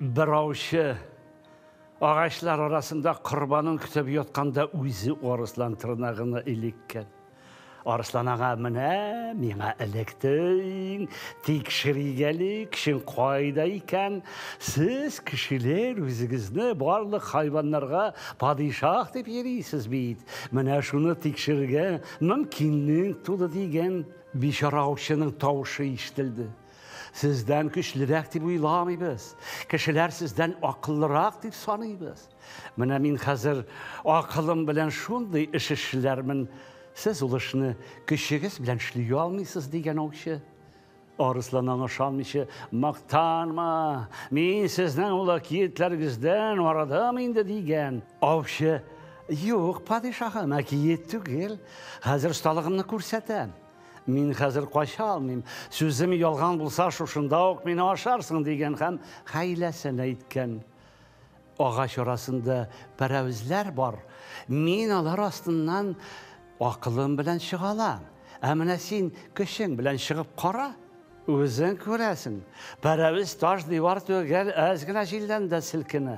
Бер аучы агачлар арасында корбанын көтеп ятканда үзе арыслан тырнагына элеккән. Арыслан ага, менә миңа электең, тик ширигәле кешең кайда икән? Сез кешеләр үзегезне барлык хайваннарга падишах дип йөрисез бит. Менә шуны тикшерергә мөмкинлек туды, дигән. Бичара аучының тавышы ишетелде. Сездән көчлерәк дип уйламыйбыз. Кешеләр сездән акыллырак дип саныйбыз. Менә мин хәзер акылым белән шундый эш эшләрмен. Сез ул эшне көчегез белән эшли алмыйсыз дигән аучы. Арыслан аңа ышанмыйча, мактанма, мин сезнең ул әкиятләрегездән арадам инде дигән. Аучы, юк, падишаһым, әкият түгел. Хәзер осталыгымны күрсәтәм. Мин хәзер кача алмыйм. Сүзем ялган булса, шушында ук мине ашарсың, дигән һәм хәйләсен әйткән. Агач арасында пәрәвезләр бар. Мин алар астыннан акылым белән чыга алам. Ә менә син көчең белән чыгып кара. Үзең күрәсең, пәрәвез таш-дивар түгел, әз генә җилдән дә селкенә.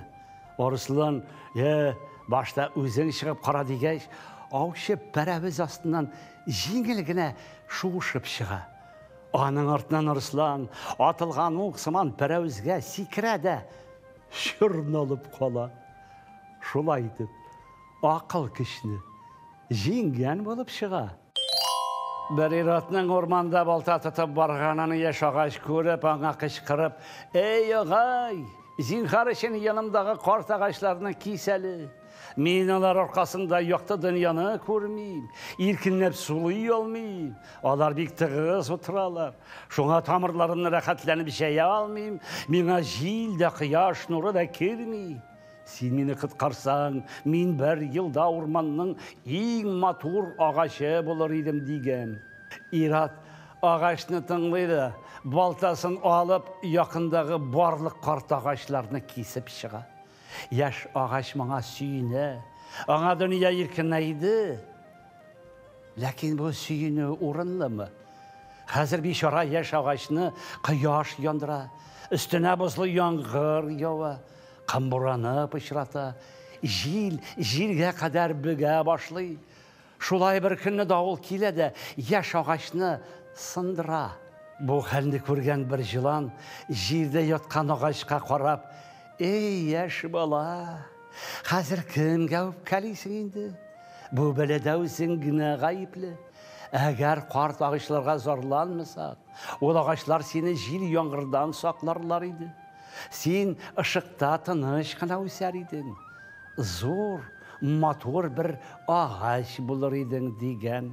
Арыслан, Йә, башта үзең чыгып кара, дигәч, аучы пәрәвез астыннан җиңел генә шуышып чыга. Аның артыннан Арыслан, атылган ук сыман, пәрәвезгә сикерә дә чорналып кала. Шулай итеп, акыл көчне җиңгән булып чыга. Бер ир-атның урманда балта тотып барганын яшь агач күреп, аңа кычкырып, Эй, агай, зинхар өчен янымдагы карт агачларны кис әле. Мин алар аркасында якты дөньяны күрмим, иркенләп сулый алмыйм. Алар бик тыгыз утыралар. Шуңа тамырларымны рәхәтләнеп җәя алмыйм. Миңа җил дә, кояш нуры да керми. Син мине коткарсаң, мин бер елда урманның иң матур агачы булыр идем, дигән. Ир-ат агачны тыңлый да, балтасын алып, якындагы барлык карт агачларны кисеп чыга. Яшь агач моңа сөенә. Аңа дөнья иркенәйде. Ләкин бу сөенү урынлымы? Хәзер бичара яшь агачны кояш яндыра, өстенә бозлы яңгыр ява. Камбураны пычрата, җил җиргә кадәр бөгә башлый. Шулай бер көнне давыл килә дә яшь агачны сындыра. Бу хәлне күргән бер җылан, җирдә яткан агачка карап, Эй, яшь бала, хәзер кемгә үпкәлисең инде? Бу бәладә үзең генә гаепле. Әгәр карт агачларга зарланмасак, ул агачлар сине җил-яңгырдан сакларлар иде. Син ышыкта тыныч кына үсәр идең, зур, матур бер агач булыр идең, дигән.